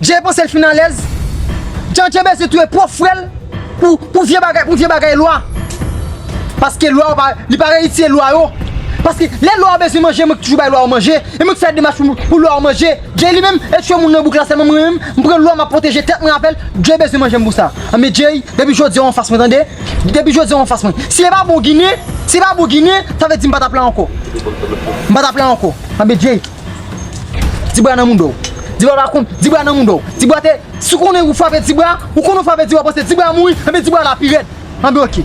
Jay panse l fin alèz. Jan Jay bezwen touye pwòp frè l pou vye bagay pou vye bagay lwa. Paske lwa yo pa li pa reyitiye lwa yo. Paske lè lwa yo bezwen manje mwen k toujou bay lwa yo manje. E mwen k fè demach pou lwa yo manje. Jay li menm e chwe moun nan bouk la sèlman mwen menm m pran lwa m ap pwoteje tèt mwen avè l. Jay bezwen manje m pou sa. Anben Jay depi jodi a w anfas mwen tande. Depi jodi a w anfas mwen. Si e pa bon ginen si e pa bon ginen sa vle di m pa t ap la ankò. M pa t ap la ankò. Anben Jay. Ti bra nan moun do. Ti bra pa konn. Ti bra nan moun do. Ti bra te. Si w konnen ou frape ti bra. Ou konnen w frape ti bra panse ti bra mouri. Ebyen ti bra la pi rèd. Anben ok.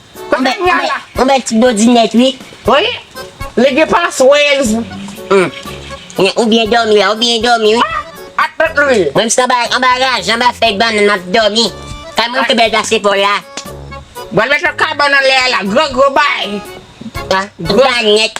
Ou bèl ou bèl ti dodi nèt wi. Wi li gen paswèz. Ou byen dòmi la ou byen dòmi wi. Ak tout lwil. Mwen m sot anba raj anba fèy bannann map dòmi. Kay mwen pi bèl pase paw la. Bwèl met lòt kay bannann lè a la gro gro bay. Gro bay nèt.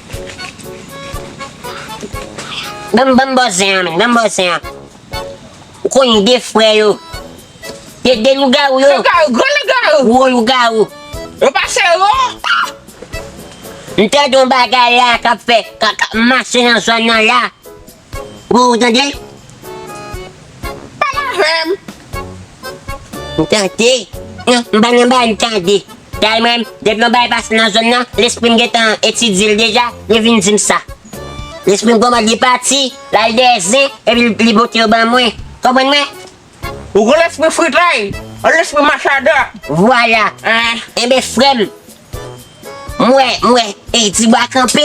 Banm banm bòzè an menn banm bòzè an ou konn de frè yo de de lougarou yo gwo lougarou m tande yon bagay la kap fè kap mache nan zòn nan la. Pou ou tande. Pale avè m. M tante. Non, m pa nan bay tande. Kay mwen, depi yon bagay pase nan zòn nan, lespri m gen tan etidye l deja, yo vin di m sa. Lespri m komand li pati, l al dèyè zen, epi li pote yo ban mwen. Konprann mwen? Ou kon lespri fritay, yon lespri machada. Vwala. Enben frè m, m wè, m wè, ey ti bwa kanpe.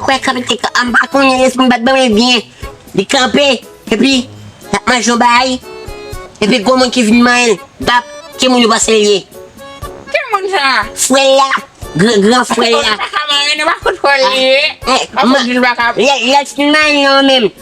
Kwè kanpe ti bwa, m pa konnen lespri m pa t ban mwen byen. Li kanpe, epi l ap manje yon bagay, epi gwo moun ki vin manyen l, bap, ki moun ou panse l ye? Ki moun sa a? Frè l la, gran frè l la. Paske konn li pa ka manyen l, yo pa fout kwè l li ye. Yo pa fout di l pa ka. Lè l fin manyen l lan menm.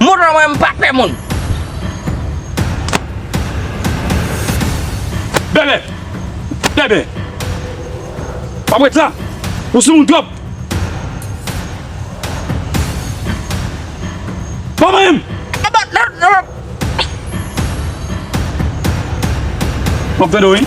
Moun lan mwen mpa pè moun. Bebe! Bebe! Pap ret la! Ou sou moun twòp! Ban mwen m! Map tande w wi.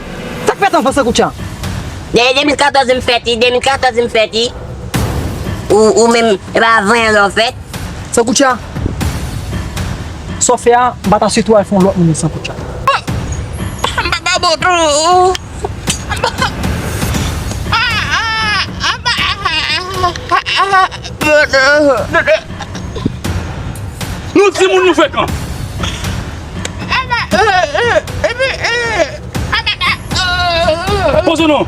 Sak fèt anfans tankou tchan. Dèyè 2014 m fèt wi 2014 m fèt wi Ou menm e pa avan yè lè w fèt. Sankoutcha Sa w fè a m pa ta swete w al fè yon lòt moun li Sankoutcha. Bon M pa ka bon tou Nou timoun nou frekan. Poze nou!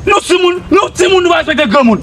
Nou ti moun, nou ti moun nou pa respekte gran moun.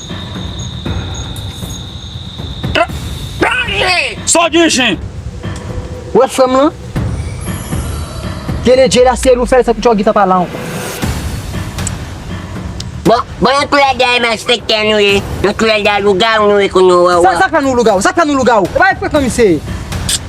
Sa w gen jen? Ou wè frèm lan? Kenedjy la se li ou fèl sa kouti w gentan pa la ankò. Bon bon yon twèl dèyè malfektè nou ye, yon twèl dèyè lougawou nou ye kounya w wè w wè. Sa k fè nou lougawou? Sa k fè nou lougawou? E pa yon frekan misye ye?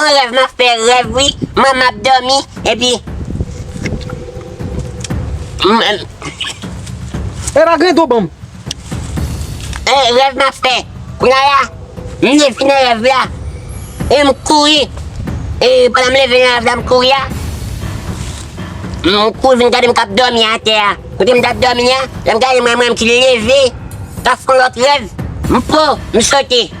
An rèv map fè rèv wi man map domi epi m. Epa gen do banm. E rèv map fè kounya la m leve nan rèv la e m kouri e pandan m leve nan rèv la m kouri a m kouri vin gade m kap domi atè a kote m tap domi a lèm gade m wè m menm ki leve kap fon lòt rèv m po m sote.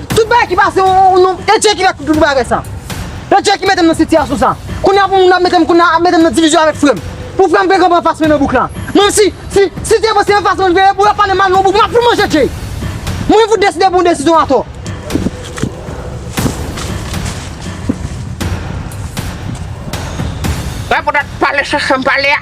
Tout bagay ki pase ou nou e Dieu ki fè tout bagay sa e Dieu ki metem nan sitiyasyon sa kounya pou moun ap metem kounya ap metem nan divizyon avèk frèm pou frèm vle konprann fas mwen nan bouk la menm si si si se mwen se anfas mwen veye pou yo pale mal nan bouk map fout manje Jay mwen fout deside pran desizyon atò. Mwen pou dat pale sa sam pale a.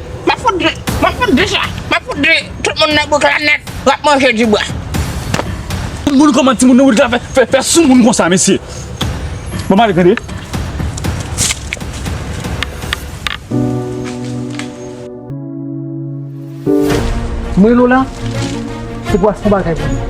Map fout dre, map fout dre sa, map fout dre tout moun nan bouk la nèt wap manje di bwa. Tout moun kòman ti moun nan bouk la fè fè sou moun konsa mesye. Bon male tande. Mwen Lola, se pou a fon bagay pou mwen.